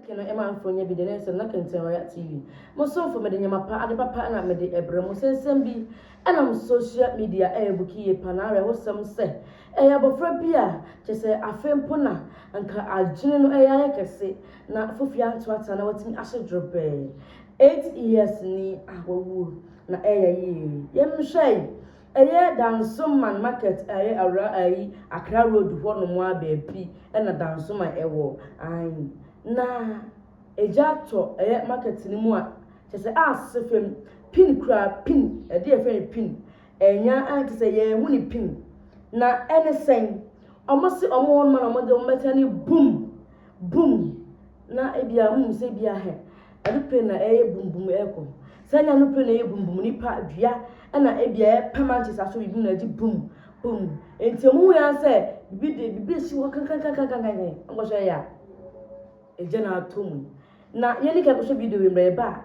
Ke no ɛma nfo nyɛ bi de ne nsɛm na kenten royal TV mo somfo mede nyɛma pa ade papa ɛna mede ɛbrɛ mo sɛ nsɛm bi ɛnam social media ɛyɛ buki yie pa na awerɛhosɛm sɛ ɛyɛ abɔfra bi a kyɛsɛ afei mpo na nka adwene no ɛyɛ ayɛ kɛse na fofie anto ata na watumi ahye drobɛɛ 8 years ni a wawuo na ɛyɛ yie yɛnhwɛe Ɛyɛ Dansoman market a ɛyɛ awura ayi Accra road hɔ nom a baabi na Dansoman ɛwɔ ae na ɛgya tɔ ɛyɛ market no mu a kyɛ sɛ a sese fam pin kura pin ɛde yɛ fɛn pin ɛnya a kyɛ sɛ yɛ ɛho ne pin na ɛne sɛn ɔmo se ɔmo hɔ nom a na ɔmo de ɔmo bɛtena ne boom boom na ebi a ɔmo sɛ ebi a hɛ Anupre na ɛyɛ bum bum ɛkɔ. Saa nya anupre na ɛyɛ bum bum nipa dua ɛna ɛbia yɛ pɛ mankyɛ saa so bibi mu na ɛgye bum bum nti ɔmo hu yan sɛ bibi de bibi esi hɔ kankankankankan ɔnkɔ so ɛya ɛgya na ato mu na yɛne kɛ kɔ so video wei mbrɛ yɛ ba a.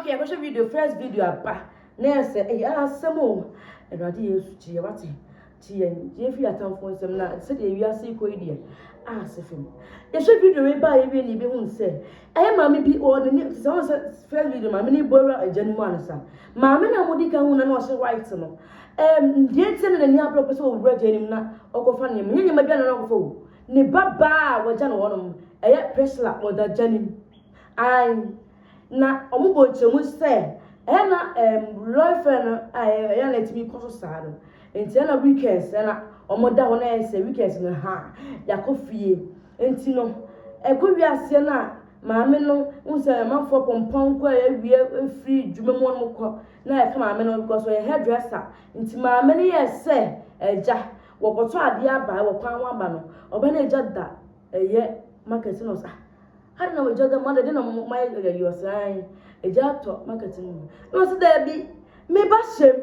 Okay, I go show video, first video aba. Nurse, eh, ah, semo. Eradi Yesu tie wate. Tie tie fi atamfo nsem na se de wiase ko yi de. Ah, se fem. Ye show video we ba ye bi ni be hun se. Eh, maame bi o ne ni se on se first video maame ni boira ejan mu ansa. Maame na mudi kan hun na no se white no. Eh, die tie na ni abro pese o wura janim na okofa ne me. Nye ma bia na no okofa o. Ne baba wajan wonom. Eh, Priscilla wada janim. Ae, na wɔbɔ nkyɛmu sɛ ɛyɛ na ɛm lɔre fɛ no a ɛyɛ na ɛtumi kɔ so saa no nti ɛna weekends ɛna wɔda hɔ na ɛyɛ sɛ weekends no ha yɛakɔ fie nti no ɛkɔ wie aseɛ no a maame no n sɛ amanfoɔ pɔmpɔn kɔ a yɛawie firi dwuma mu wɔn kɔ na ɛka maame no because ɔyɛ hairdresser nti maame no yɛ sɛ agya wɔkɔtɔ adeɛ aba wɔ kwan ho aba no ɔbɛ no agya da ɛyɛ market no sa Adɛn na w'agya dɔ mother? Dɛn na moayɛ no yɛyi ɔsɛ ae agya atɔ market no mu. Na ɔse daabi me ba hyem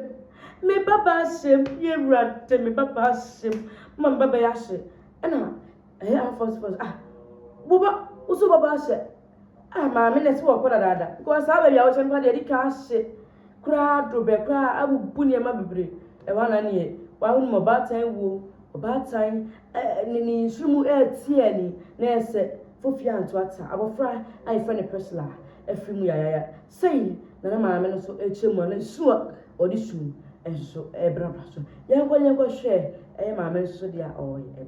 me ba baa hyem me awurade me ba baa hyem ma me ba bɛyɛ ahye ɛna ɛyɛ amfɔs fɔs ah wo ba wo so ba baa hyɛ ah maame na ɛsɛ wɔkɔ dadaada because saa baabi a wɔhyɛ no pa deɛ ɛdi kan ahye koraa adoro bɛ koraa abubu nneɛma bebree. Ɛhɔ ara na neɛ woahu no ɔbaatan wuo, ɔbaatan ɛɛ ne ne nsono mu ɛreteɛ ani na ayɛ sɛ fofie anto ata. Abɔfra a yɛfrɛ no Priscilla afiri mu yayaya. Sei na ne maame no nso ɛrekyerɛ mu a na su a ɔde su nso ɛrebrabra so. Yɛnkɔ na yɛnkɔhwɛ ɛyɛ maame nso deɛ a ɔreyɛ.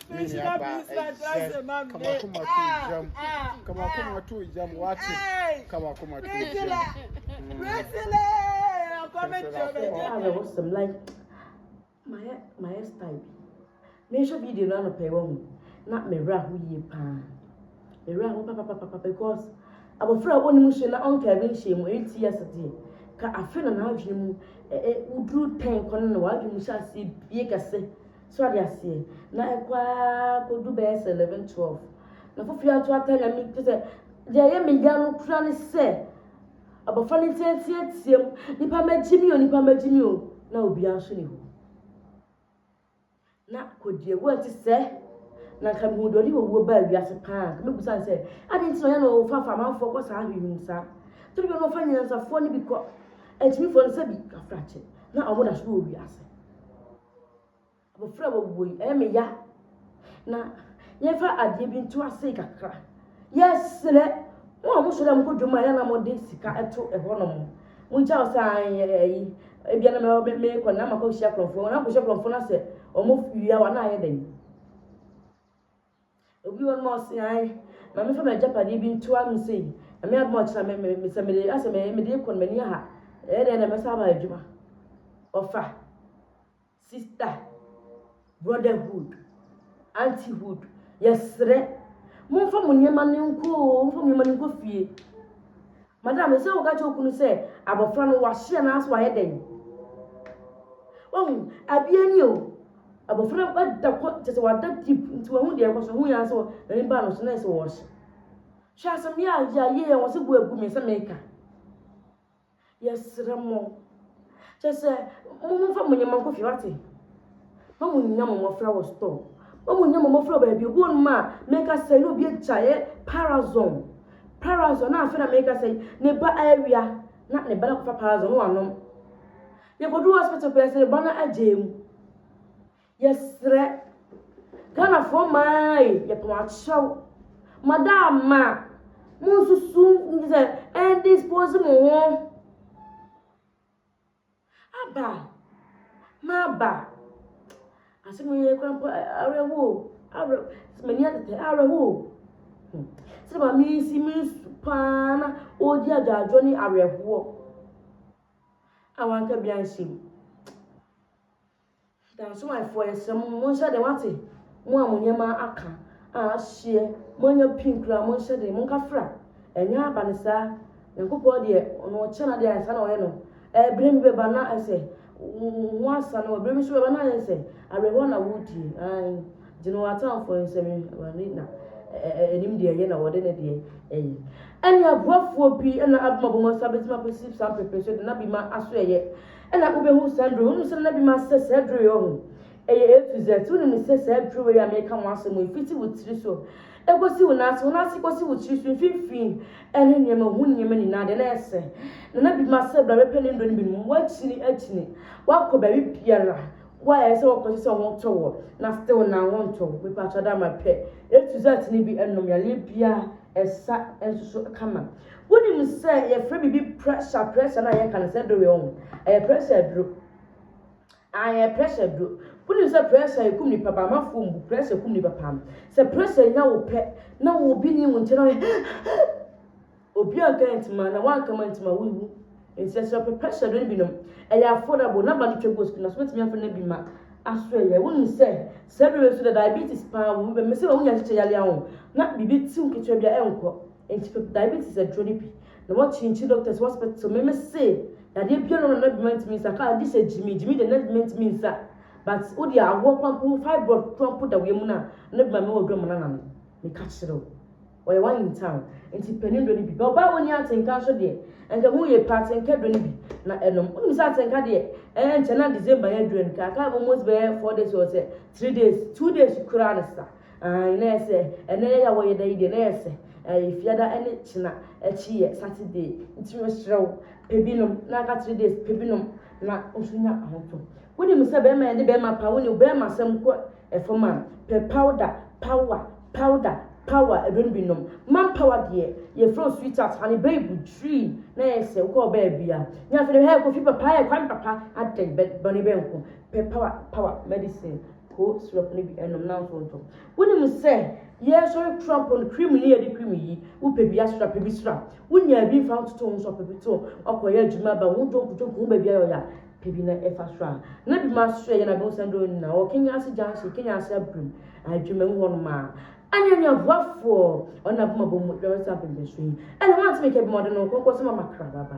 Me nua ba ɛyɛ kama koma to jam kama koma to jam wate kama koma to jam. Priscilla akɔmi jɔ bɛ jɛ. Ɛyɛ awɔ sɛm like mayɛ mayɛ style bi. Mehwɛ video no anɔpɛ wɔ ho na mewura ho yie paa. Mewura ho papapapa because abɔfra a ɔnim nsuo na ɔnka bi nhyɛ mu ɛyɛ ti ase deɛ ka afe na n'adwene mu woduru tɛn kɔ no na w'adwene mu hyɛ aseɛ bie kɛse. So ade aseɛ? Na ɛkɔ ara kɔdu bɛyɛ sɛ eleven twelve. Na fofiri ato ata nyame kyɛ sɛ deɛ ɛyɛ me ya no kura ne sɛ abɔfra no nteateateam nipa magye mi o nipa magye mi o na obiara nso ni hɔ. Na kɔdi awuo nti sɛ na nka mehu deɛ ɔde owuo baa wiase paa nka mebusa no sɛ ade nti na ɔyɛ na ɔfafa amanfoɔ kɔ saa hwehwem saa toro bi na ɔfa nyansafoɔ no bi kɔ akyimifoɔ no sɛ bi kafrakye na ɔmo da so wɔ wiase. Abɔfra a wawuo yi, ɛyɛ me ya. Na yɛmfa adeɛ bi nto ase kakra. Yɛsrɛ mo a mosɔre a mokɔ dwom a yɛ na mode sika to ɛhɔnom. Mogya wo saa ɛyi. Ebia na mekɔ na makɔ hyia kurɔfoɔ. Na makɔ hyia kurɔfoɔ na sɛ wɔn wia wa na ayɛ dɛn? Obi wɔ hɔ nom a ɔse ae ma me fa m'agyapadeɛ bi ntoa me sei, Nyame adom a ɔkyena me me me sɛ mede asɛ me mede rekɔ no m'ani aha ɛyɛ dɛn na mɛsan aba adwuma. Ɔfa, sister, brotherhood, auntyhood, yɛsrɛ momfa mo nneɛma no nkɔ oo, momfa mo nneɛma no nkɔ fie. Madam ɛsɛ woka kyerɛ wo kunu sɛ abɔfra no wahye anaasɛ wayɛ dɛn. Wahu, abia ni o. Abɔfra no ada kɔ kyɛ sɛ wada deep nti wahu deɛ ɛkɔ so hu yɛn sɛ n'ani baa no so na yɛ sɛ wɔɔhye hwɛ asɛm yɛ a yɛ ayɛ yɛn wɔ sɛ bu agu me sɛ meka yɛsrɛ mo kyɛ sɛ mo mo fa mo nneɛma nkɔ fie wate ma mo nya mo mmɔfra wɔ store ma mo nya mo mmɔfra wɔ baabi obi wɔ no ma a meka sɛ ne obi agya yɛ parazon parazon na afei na meka sɛ ne ba awia na ne ba no akɔfa parazon no wanom Yɛkɔduu hospital pɛɛ sɛ ba no agyaa mu. Yɛsrɛ. Ghanafoɔ mmaa ei, yɛpɛ mo akyɛw. Madaama, monsusu sɛ ɛndispose mo ho. Aba, m'aba. Asɛm yi koraa mpo awerɛhoɔ o, awerɛ, m'ani atetɛ, awerɛhoɔ o. Hmm. Sɛ maame yi si me nsu paa na ɔredi adwaadwoɔ ne awerɛhoɔ. a wanka bi anhyɛ mu. Dansomanfoɔ yɛsrɛ mo monhyɛ den wate mo a mo nneɛma aka a ahyeɛ moanya pin koraa monhyɛ den monka fra ɛnyɛ aba no saa nyankopɔn deɛ ɔno ɔkyɛ no adeɛ ansa na ɔyɛ no ɛberɛ bi bɛba na ɛsɛ ho asa no ɛberɛ bi nso bɛba na ayɛ sɛ awerɛhoɔ na wodie Gye no w'atamfoɔ nsam Awurade na nim deɛ ɛyɛ na ɔde ne deɛ ɛyɛ. Ɛne aboafoɔ bi na abom abom asa bɛtumi apɛsi saa mpepere so de na bi ma aso ɛyɛ ɛna wobɛhu saa nduro wonim sɛ na bi ma sɛ saa duro yɛ ɔho ɛyɛ A to Z wonim sɛ saa duro wei a meka mo asɛm yi fiti wo tiri so ɛkɔsi wo naase wo naase kɔsi wo tiri so mfimfini ɛne nneɛma ho nneɛma nyinaa deɛ na ɛsɛ na na bi ma sɛ bra bɛpɛ ne nduro no bi nom wakyini akyini wakɔ baabi biara Why ɛsɛ wɔ kɔsi sɛ wɔn tɔ wɔ na still na wɔn ntɔ mepatwa da ma pɛ A to Z ne bi ɛnom yareɛ bia ɛsa nsoso kama wonim sɛ yɛfrɛ bibi pressure pressure na yɛka no sɛ doro yɛ wɔn ɛyɛ pressure aduro ayɛ pressure aduro wonim sɛ pressure ekum nipa ba amafoɔ mbu pressure kum nipa paa sɛ pressure nya wo pɛ na wo bi ni wo nkyɛn na Obi anka antim a, na wanka mantim a, wonwu. Enti ɛsɛ sɛ ɔpepɛ hyɛ do no binom. Ɛyɛ affordable, n'aba no twa gu sika, nanso wobetumi afa no bi ma aso ayɛ. Wunim sɛ, saa bere yi nso na diabetes paa wom. Ebia mese ma wunya kyekyɛ yare ahorow na biribi tiw ketewa bi a ɛnkɔ. Enti fa diabetes aduro no bi na woakyinkyin doctors hospital. Me mese yareɛ biara nni hɔ a na bi mantumi nsa, kaa gye sɛ gyimi, gyimi deɛ na bi mantumi nsa. But wo deɛ awoɔ koraa mpo, fibroid koraa mpo da wo yam no a, na bi ma mewɔ aduro a manana no. Meka kyerɛ wo. Ɔyɛ one in town nti panin dɔ no bi. Bɛ ɔbaa a ɔnni atenka nso deɛ, anka ɛho yie paa, atenka dɔ no bi na ɛnom. Wonim sɛ atenka deɛ, ɛɛ nkyɛ na December yɛ duru anka aka almost bɛyɛ four days or sɛ three days, two days koraa ne sa. Ae, na ɛyɛ sɛ ɛnɛ yɛ yɛ a wɔyɛ da yi deɛ, na ɛyɛ sɛ ɛɛ Fiada ne Kyena akyi yɛ Saturday. Nti mesrɛ wo, pɛ bi nom na aka three days, pɛ bi nom na wo nso nya ahotɔ. Wonim sɛ bɛrima yɛde bɛrima paa, wo ne bɛrima asɛm kɔ Fam a, pɛ powder, power, powder, power, ɛdɔ no bi nom. Man power deɛ, yɛfrɛ wo sweetheart, honey babe, tree, na ɛyɛ sɛ wokɔ baabi a, nyɛ afei na, hɛ, Kofi papa, hɛ, Kwame papa, adɛn, bɛ, bɔne bɛn nko, pɛ power, power, medicine, koo syrup no bi nom na nso ntɔ. Wonim sɛ, yɛresɔre Trump no, cream ne yɛde cream yi, wopɛ bi asra, pɛ bi sra, wonyaa bi mfa ho toto wo ho so a, pɛ bi to, woakɔyɛ adwuma aba, wo ho dwonkodwonko, wo ho baabi ayɛ wo ya, pɛ bi na ɛfa soro a, na bi ma soro yɛ na bɛhu sɛ ndɔ nyina wɔ Kenya ase junction, Kenya ase abirem, Adwumamu hɔ nom a. Anya nya boafoɔ ɔne na bɛma bɔ mu dwuma bɛsa mpɛmpɛ so yi, ɛna wɔn ntumi kɛ bi ma ɔde no nkɔnkɔ sɛ ma ma kra ba ba.